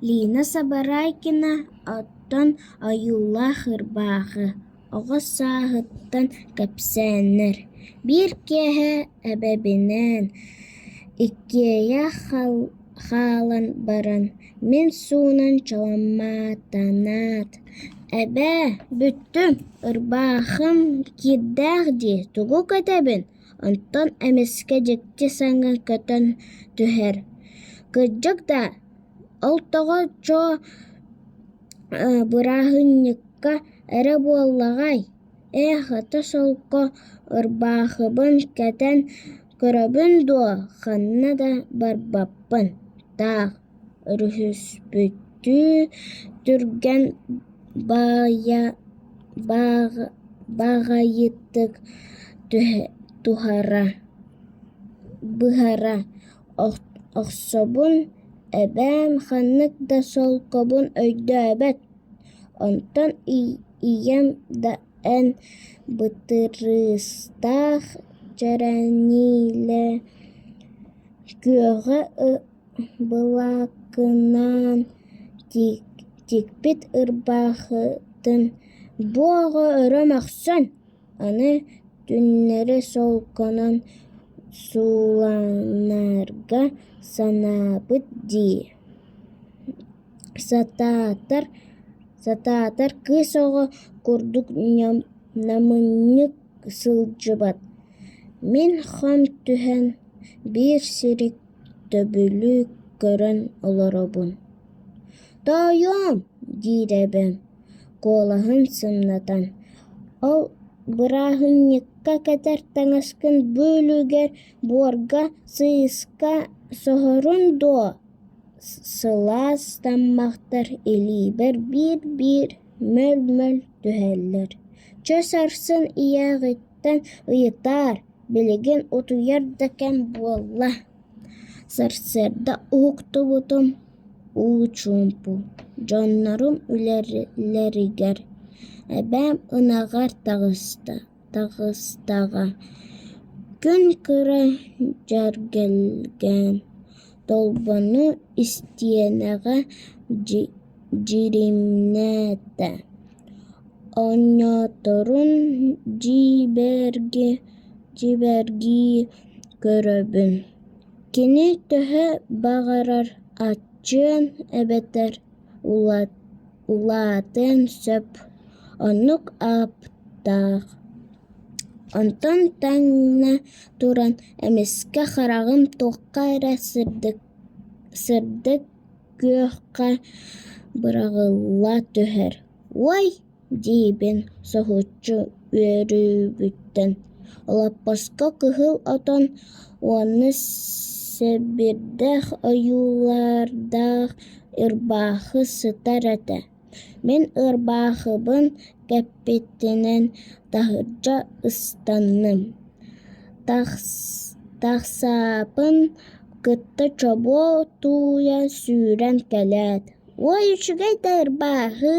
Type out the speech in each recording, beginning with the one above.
Лина Сабарайкина оттон ойуулаах ырбаахы оҕо сааһыттан кэпсээннэр: «Биир киэһэ эбэбинээн иккиэйэ хаалан баран мин суунан чаламматанаат: "Эбээ, бүттүм, ырбаахым киирдээх дии, тугу кэтэбин Оттон эмискэ дьикти саҥа көтөн түһэр. Кырдьык да, ол тоҕо чоо бырааһынньыкка эрэ буоллаҕай? Ээ, хата-солко ырбаахыбын кэтэн көрөбүн дуо, ханна да барбаппын. Таах Өрүһүспүттүү түргэн баҕайытык туһара охсобун эбээм ханнык да солкобун өйдөөбөт, онтон ийэм да эн бытырыыстаах, чэрэниилэ күөҕэ Былакынан тикпит ырбаахытын бу оҕо өрө мөхсөн, аны түннэри солкунан сууланарга санаабыт дии сатаатар кыыс оҕо курдук намынньык сылдьыбат. Мин хам түһэн биир сири Төбүлү көрөн олоробун «Тоойуом» диэрэбин, куолаһын сымнатан. Ол бырааһынньыкка кэтэр таҥаскын бөөлүгэр буорга сыыска соһорун дуо? Сылаас таммахтар илиибэр биир-биир мөл-мөл түһэллэр. Чэ сарсын ийээ Таттаттан ыйытаар, билигин утуйар да кэм буолла, сарсыарда уһуктубутум, уу чуумпу, дьоннорум үлэлэригэр эбээм ынаҕар таҕыста, таҕыстаҕа, күн кыра дьэргэлгээн Толбону истиэнэҕэ дьиримнээтэ, оонньоторун дьиибэргии көрөбүн, кини төһө баҕарар аччыан эбэтэр Улаатыан сөп, оннук аптаах. Онтон тэҥнэ туран, эмискэ хараҕым туохха эрэ сырдык, күөххэ быраҕылла түһэр. Уой! диибин соһуччу үөрүүбүттэн. Лаппаска кыһыл отон уонна сэбирдэх ойуулардаах ырбаахы сытар этэ. Мин ырбаахыбын кэппитинэн таһырдьа ыстанным. Тахсаапын кытта чобуо тууйа сүүрэн кэлээт: «Уой, үчүгэй да ырбааһы!»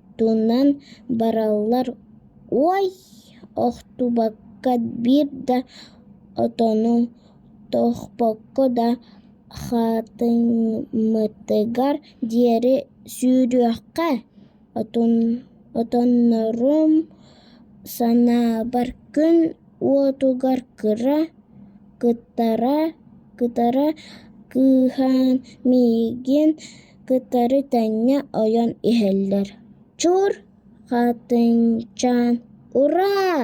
туунан бараллар уой охтубакка биир да отону тохпокко да хатыммытыгар диэри сүүрүөххэ отоннорум санаабар күн уотугар кытара кыыһаан миигин кытары тэҥҥэ ойон иһэллэр «Чур! Хатыҥчаан! Ураа!»